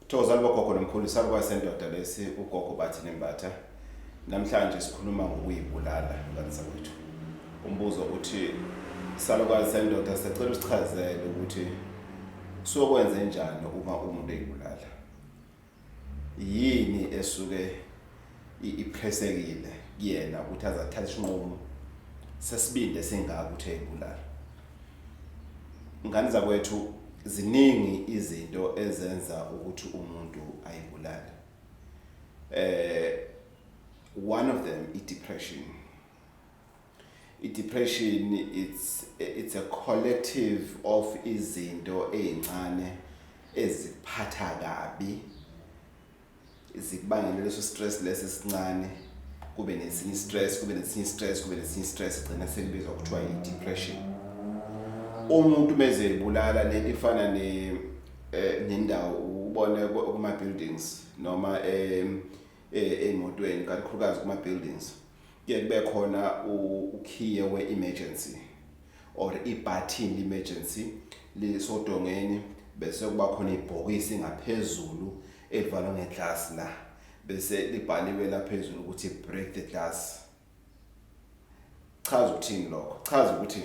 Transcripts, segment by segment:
Thokozani bogogo nomkhulu isalukazi sendoda lesi ugogo bathi nembatha namhlanje sikhuluma ngokuyibulala ngane zakwethu umbuzo uthi isalukazi sendoda sicela usichazele ukuthi sokwenze njani uma umuntu eyibulala yini esuke iphresekile kuyena ukuthi aze athathe isinqumo sesibindi esingaka ukuthi eyibulala ngane zakwethu ziningi izinto ezenza ukuthi umuntu ayibulale eh one of them i depression i depression it's it's a collective of izinto ezincane eziphatha kabi zikubangele leso stress lesi esincane kube nesinye stress kube nesinye stress kube nesinye stress gcina sekubizwa kuthiwa i-depression umuntu meze ebulala lento ifana ne eh, nendawo ubone kuma buildings noma em eh, emotweni kakhulukazi kuma buildings Kuye kube khona ukhiye we-emergency or ibhathini le-emergency lisodongeni bese kuba khona ibhokisi ngaphezulu elivalwe ngeglasi la bese libhaliwe la phezulu ukuthi break the glass chaza ukuthini lokho chaza ukuthi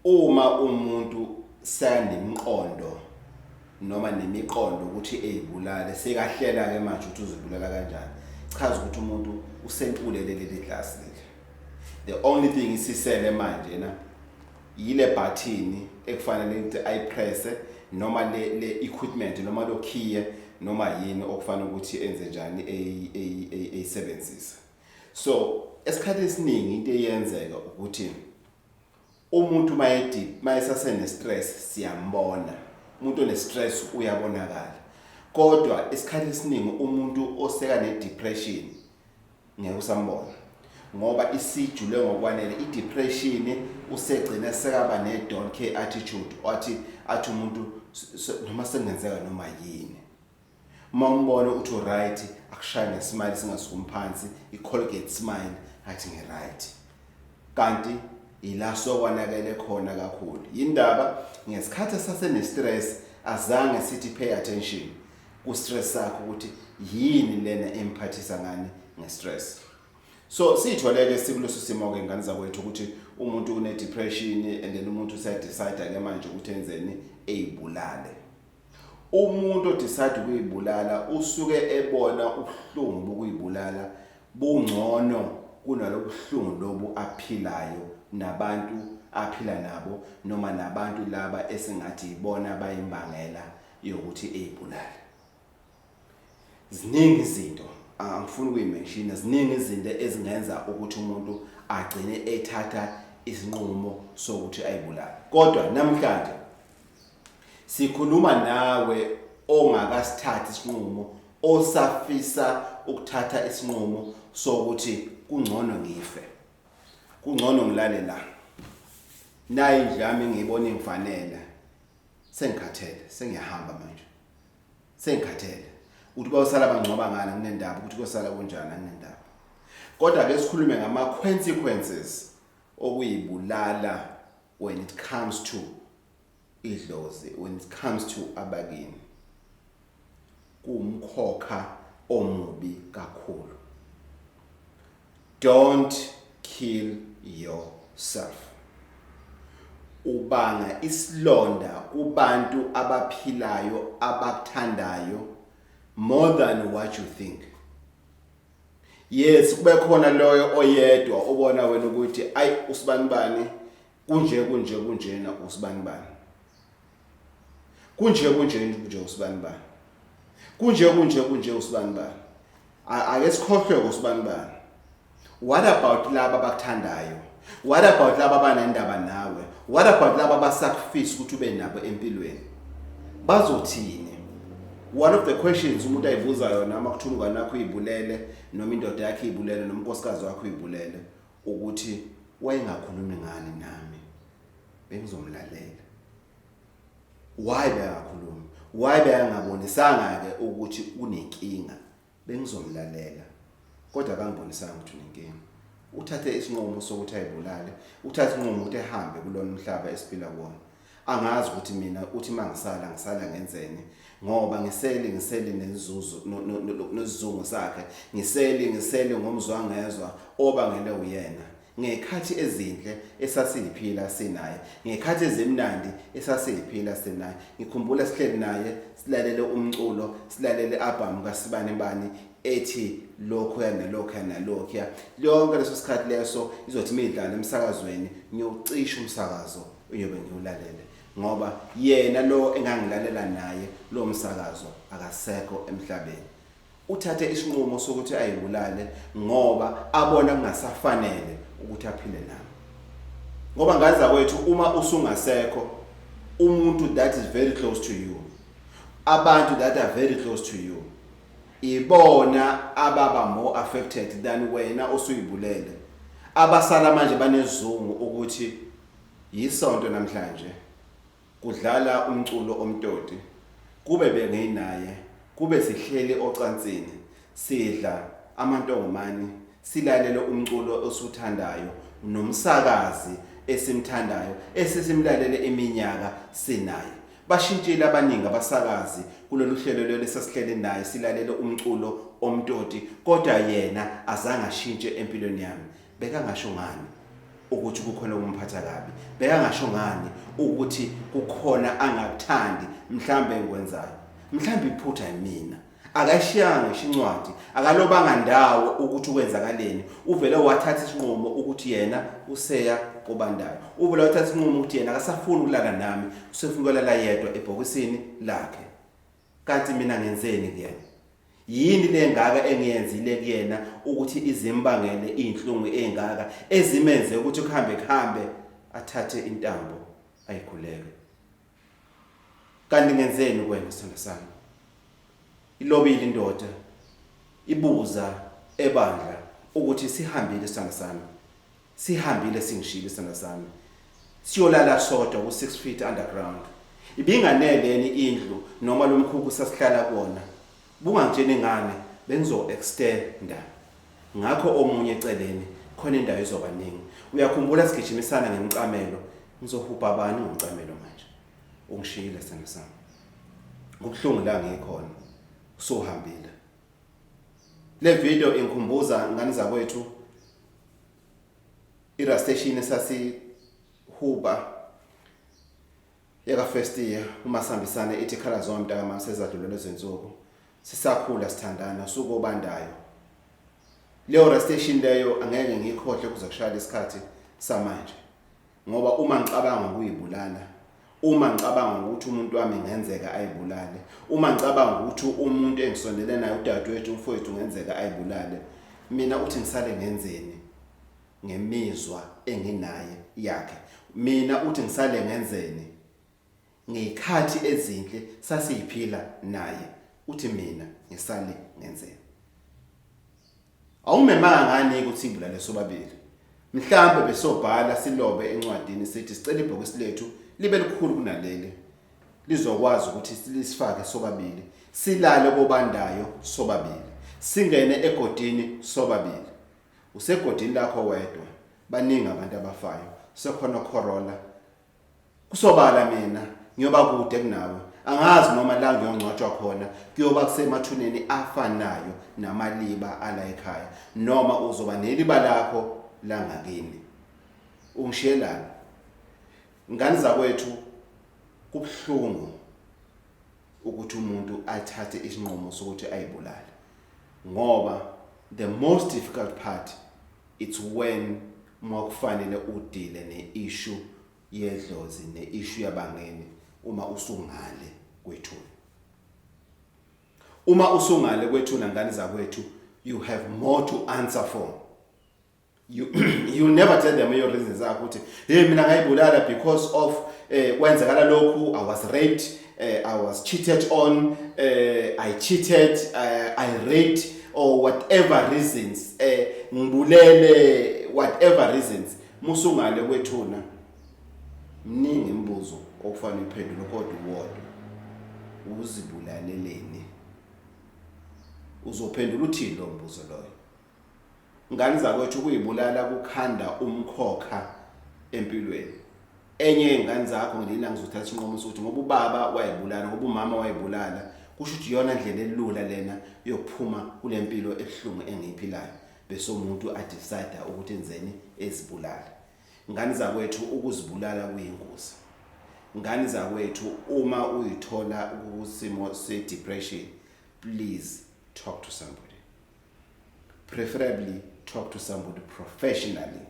Uma umuntu sekanemiqondo noma nemiqondo ukuthi eyibulale sekahlela ke manje ukuthi uzibulala kanjani chaza ukuthi umuntu usentulele leli glass leli the only thing isisele manje na yile button ekufanele ukuthi ayipresse noma le le equipment noma lokhiye noma yini okufanele ukuthi enze njani eyisebenzisa so esikhathi esiningi into eyenzeka ukuthi umuntu mayedi mayesasene stress siyambona umuntu one stress uyabonakala kodwa isikhathi esiningi umuntu oseka ne depression ngeke usambona ngoba isijule ngokwanele i depression usegcina sekaba ne don't care attitude wathi athi umuntu noma sengenzeka noma yini Uma umbona uthi uright akushaye ngesmile singasukumi phansi i-colgate smile athi ngiright kanti ila sokwanakele khona kakhulu yindaba ngesikhathi sasenestress azange sithi pay attention ku-stress sakho ukuthi yini lena emphathisa ngani ngestress so siyitholeke sikuleso simo-ke ngane zakwethu ukuthi umuntu une-depression and then umuntu usedecide-ke manje ukuthi enzeni eyibulale Umuntu odecide ukuyibulala usuke ebona ubuhlungu bokuyibulala bungcono kunalobuhlungu lobu aphilayo nabantu aphila nabo noma nabantu laba esingathi yibona abayimbangela yokuthi eyibulale. ziningi izinto angifuni ukuyimenshina ziningi izinto ezingenza ukuthi umuntu agcine ethatha isinqumo sokuthi ayibulale kodwa namhlanje sikhuluma nawe ongakasithathi isinqumo osafisa ukuthatha isinqumo sokuthi kungcono ngife kungcono ngilale la nayi indlami ngiyibona ingifanele sengikhathele sengiyahamba manje sengikhathele ukuthi bayosala bangcwaba ngani kunendaba ukuthi kuyosala kunjani anginendaba kodwa ke sikhulume ngama consequences okuyibulala when it comes to idlozi when it comes to abakini kuwumkhokha omubi kakhulu. Don't kill yourself. Ubanga isilonda kubantu abaphilayo abakuthandayo more than what you think. Yes kube khona loyo oyedwa obona wena ukuthi ay usibanibani Kunje kunje kunjena usibanibani. Kunje kunje kunje usibanibani. Kunje kunje kunje usibanibani. Ake sikhohlwe usibanibani. What about laba abakuthandayo? What about laba abanendaba nawe? What about laba abasacrifice ukuthi ube nabo empilweni? Bazothini? One of the questions umuntu ayibuza yona uma kuthi umngane wakho uyibulele noma indoda yakhe ibulele noma unkosikazi wakho uyibulele. ukuthi wayengakhulumi ngani nami bengizomlalela why bengakhulumi why bengabonisanga-ke ukuthi unenkinga bengizomlalela kodwa kangibonisanga ukuthi unenkinga uthathe isinqumo sokuthi ayibulale uthathe isinqumo ukuthi ehambe kulona umhlaba esiphila kuwona Angazi ukuthi mina uthi mangisala ngisala ngenzeni ngoba ngisele ngisele nenzuzo nesizungu sakhe ngisele ngisele ngomzwangezwa obangele uyena ngekhathi ezinhle esasiyiphila sinaye ngekhathi ezimnandi esasiyiphila sinaye ngikhumbula sihleli naye silalele umculo silalele album kaSibani Bani ethi lokho yanalokho yanalokho yonke leso sikhathi leso izothi midlala emsakazweni ngiyocisha umsakazo uyobe ngiwulalele ngoba yena lo engangilalela naye lo msakazo akasekho emhlabeni uthathe isinqumo sokuthi ayibulale ngoba abona kungasafanele ukuthi aphile nami ngoba ngaza kwethu uma usungasekho umuntu that is very close to you abantu that are very close to you ibona ababa more affected than wena osuyibulele abasala manje banezungu ukuthi Yisonto namhlanje kudlala umculo omtoti kube benginaye kube sihleli ocansini sidla amantongomani silalele umculo osuthandayo nomsakazi esimthandayo esesimlalele iminyaka sinaye bashintshile abaningi abasakazi kulolu hlelo lelo esasihleli naye silalele umculo omtoti kodwa yena azange ashintshe empilweni yami bekangasho ngani ukuthi kukhona okumphatha kabi bekangasho ngani ukuthi kukhona angakuthandi mhlawumbe engikwenzayo mhlawumbe iphutha yimina akashiyanga ngisho incwadi akalobanga ndawo ukuthi ukwenzakaleni uvele wathatha isinqumo ukuthi yena useya kobandayo uvele wathatha isinqumo ukuthi yena akasafuni ukulala nami usefuna ukulala yedwa ebhokisini lakhe Kanti mina ngenzeni kuyena? Yini lengaka engiyenzile kuyena ukuthi izimbangele izinhlungu ezingaka ezimenze ukuthi kuhambe kuhambe athathe intambo ayikhuleke? Kanti ngenzeni kuwena sithando sami? Ilobile indoda ibuza ebandla ukuthi sihambile sithando sami. Sihambile singishilo isithandwa sami siyolala sodwa ku 6 feet underground. Ibinganele yeni indlu noma lomkhukhu sasihlala kuona. Bungangitsheni ngane bengizo extenda. Ngakho omunye eceleni khona indawo izoba ningi. Uyakhumbula sigijimisana ngemicamelo ngizohubha bani ngomcamelo manje. Ungishiyile isithandwa sami. Kubuhlungu la ngikhona. Usuhambile. Le video ingikhumbuza ngane zakwethu irasteshini esasihuba yakafirst year uma sihambisane ithi khala zona mntakama sezadlulele izinsuku sisakhula sithandana usuku obandayo leyo rasteshini leyo angeke ngiyikhohle kuze kushayela isikhathi samanje ngoba uma ngicabanga ukuyibulala uma ngicabanga ukuthi umuntu wami ngenzeka ayibulale uma ngicabanga ukuthi umuntu engisondele naye udadewethu umfowethu ngenzeka ayibulale mina uthi ngisale ngenzeni ngemizwa enginaye yakhe mina uthi ngisale ngenzeni ngey'khathi ezinhle sasiyiphila naye uthi mina ngisale ngenzeni awumemanga ngani ukuthi imbulale sobabili mhlawumbe besobhala silobe encwadini sithi sicela ibhokisi lethu libe likhulu kunaleli lizokwazi ukuthi lisifake sobabili silale kobandayo sobabili singene egodini sobabili usegodini lakho wedwa baningi abantu abafayo sekhona Corolla Kusobala mina ngiyoba kude kunawe. Angazi noma la ngiyongcwatshwa khona kuyoba kusemathuneni afanayo namaliba ala ekhaya noma uzoba neliba lakho langakini. Ungishiyelani? Ngane zakwethu kubuhlungu ukuthi umuntu athathe isinqumo sokuthi ayibulale ngoba the most difficult part it's when Uma kufanele udile ne issue yedlozi ne issue yabangeni uma usungale kwethuna. Uma usungale kwethuna ngane zakwethu you have more to answer for. You you never tell them your reasons zakho ukuthi hey mina ngayibulala because of eh kwenzekala lokhu I was raped uh, I was cheated on, uh, I cheated, uh, I raped or whatever reasons, uh, ngibulele whatever reasons, musungale kwethuna. Mningi imibuzo okufanele uphendule kodwa uwodwa. Uzibulaleleni? Uzophendula uthini lo mbuzo loyo? Ngani zakwethu ukuyibulala kukhanda umkhokha empilweni. Enye yey'ngane zakho ngilina ngizothatha isinqumo sokuthi ngoba ubaba wayibulala, ngoba umama wayibulala, kusho ukuthi iyona ndlela elula lena yokuphuma kule mpilo ebuhlungu engiyiphilayo. Bese umuntu adicide ukuthi enzeni ezibulale. Ngani zakwethu ukuzibulala kuyingozi. Ngani zakwethu uma uyithola kusimo se-depression, please talk to somebody. preferably talk to somebody professionally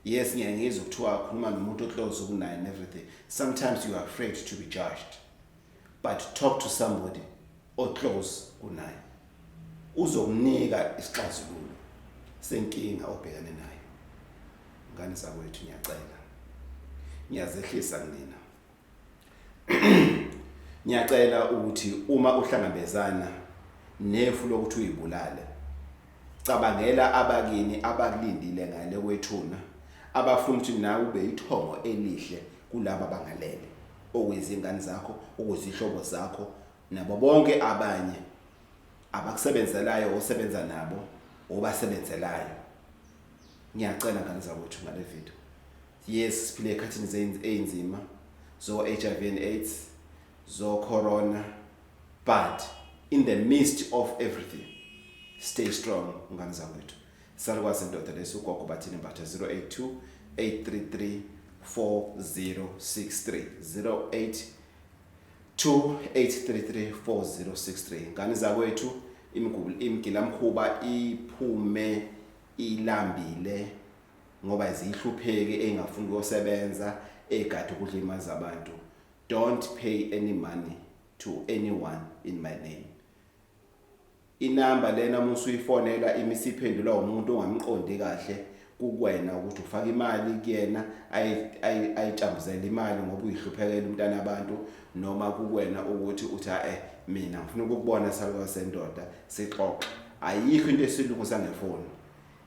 yes ngiyangizwa kuthiwa akhuluma nomuntu oclose kunaye and everything sometimes you are afraid to be judged but talk to somebody oclose kunaye uzokunika isixazululo senkinga obhekane nayo ngane zakwethu ngiyacela ngiyazehlisa kunina Ngiyacela ukuthi uma uhlangabezana nefu lokuthi uyibulale, cabangela abakini abakulindile ngale kwethuna abafuna ukuthi nawe ube yithongo elihle kulaba bangalele okuyizingane zakho, okuzihlobo zakho nabo bonke abanye abakusebenzelayo osebenza nabo obasebenzelayo. Ngiyacela ngane zakwethu ngale video Yes siphile ekhathini zezinto ezinzima zo HIV and AIDS zo corona but in the midst of everything stay strong ngani zakwethu salukwazi indoda lesugogo bathini mbatha 082 833 4063 08 28334063 ngane zakwethu imigula imigila mkhuba iphume ilambile ngoba ziyihlupheki engafuni kuyosebenza egade ukudla imali zabantu don't pay any money to anyone in my name inamba lena uma usuyifonela imisiphendula umuntu ongamqondi kahle kukwena ukuthi ufaka imali kuyena ayitshambuzele imali ngoba uyihluphekela umntana abantu noma kukwena ukuthi uthi eh mina ngifuna ukukubona saluka sendoda sixoxe ayikho into esilungu sangefoni